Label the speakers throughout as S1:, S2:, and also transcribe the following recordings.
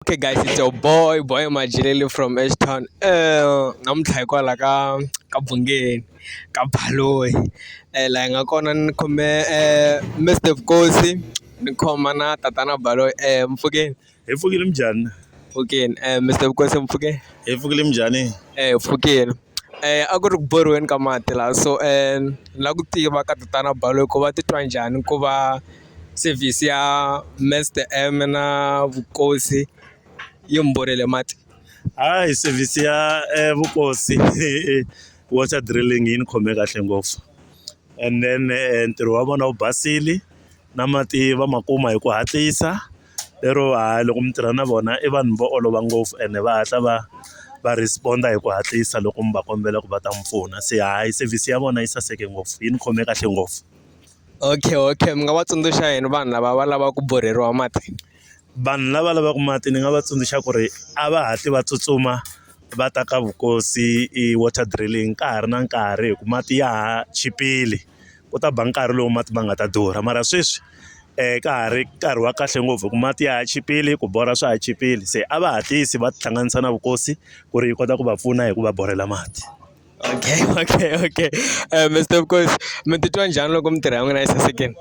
S1: okay guys it's your boy boy majelele from ashtown um namuntlha hikwalaho ka ka bungeni ka baloyi um eh, laha hi nga kona ni khome um eh, mr vukosi ni khoma na tatana baloyi um eh, mpfukeni hi pfukile
S2: minjhani pfukeni um
S1: mr vukosi mpfukeni hi pfukile minjhani
S2: um pfukeni
S1: Eh a ku ri ku borhiweni ka mati laha so eh, ni lava ku tiva ka tatana Baloyi ku va titwa njhani ku va Sevhisi ya Mister M na vukosi yi mi borile mati. Hayi
S2: sevhisi ya vukosi water drilling yi ni khome kahle ngopfu and then ntirho wa vona wu basile na mati va ma kuma hi ku hatlisa lero hayi loko mi tirha na vona i vanhu vo olova ngopfu ene va hatla va va respond-a hi ku hatlisa loko mi va kombela ku va ta mi pfuna se hayi sevhisi ya vona yi saseke ngopfu yi ni khome kahle ngopfu. Okay okay
S1: mi nga va tsundzuxa yini vanhu lava va lavaka ku borheriwa mati? Vanhu lava
S2: lavaka mati ni nga va tsundzuxa ku ri a va hatli va tsutsuma va ta ka Vukosi i water drilling ka ha ri na nkarhi hi ku mati ya ha chipile ku ta ba nkarhi lowu mati ma nga ta durha mara sweswi ka ha ri nkarhi wa kahle ngopfu hi ku mati ya ha chipile ku borha swa ha chipile se a va hatlisi va tihlanganisa na Vukosi ku ri yi kota ku va pfuna hi ku va borhela mati. Okay,
S1: okay, okay. Uh, Mr. Mkosi, mi titwa njhani loko mintirho ya n'wina yi sasekile?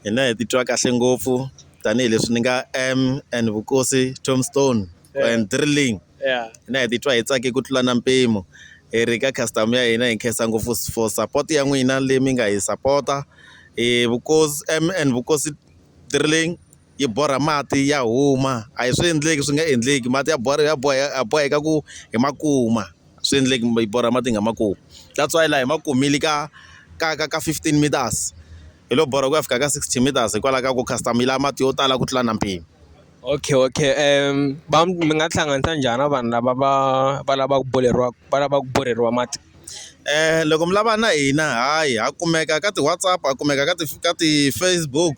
S1: Hina hi titwa
S3: kahle ngopfu tanihileswi ni nga M and Vukosi Tombstone yeah. and Drilling. Yeah. Hina hi titwa
S1: hi tsake
S3: ku tlula na mpimo. Hi ri ka customer ya hina hi nkhensa ngopfu for support ya n'wina leyi mi nga hi sapota. Hi Vukosi M and Vukosi Drilling yi borha mati ya huma a hi swi endleki swi nga endleki mati ya borha ya boya ya boheka ku hi ma kuma a swi endleki yi borha mati hi nga ma kumi that's why laha hi ma kumile ka ka ka ka fifteen meters hi lo borha ku ya fika ka sixty meters hikwalaho ka ku customer yi lava mati yo tala ku tlula na mpimo. Okay okay
S1: va mi nga tihlanganisa njhani na vanhu lava va va lavaka ku borheriwa va lavaka ku borheriwa mati
S3: loko mi lava na hina hayi ha kumeka ka ti-WhatsApp ha kumeka ka ti ka ti-Facebook.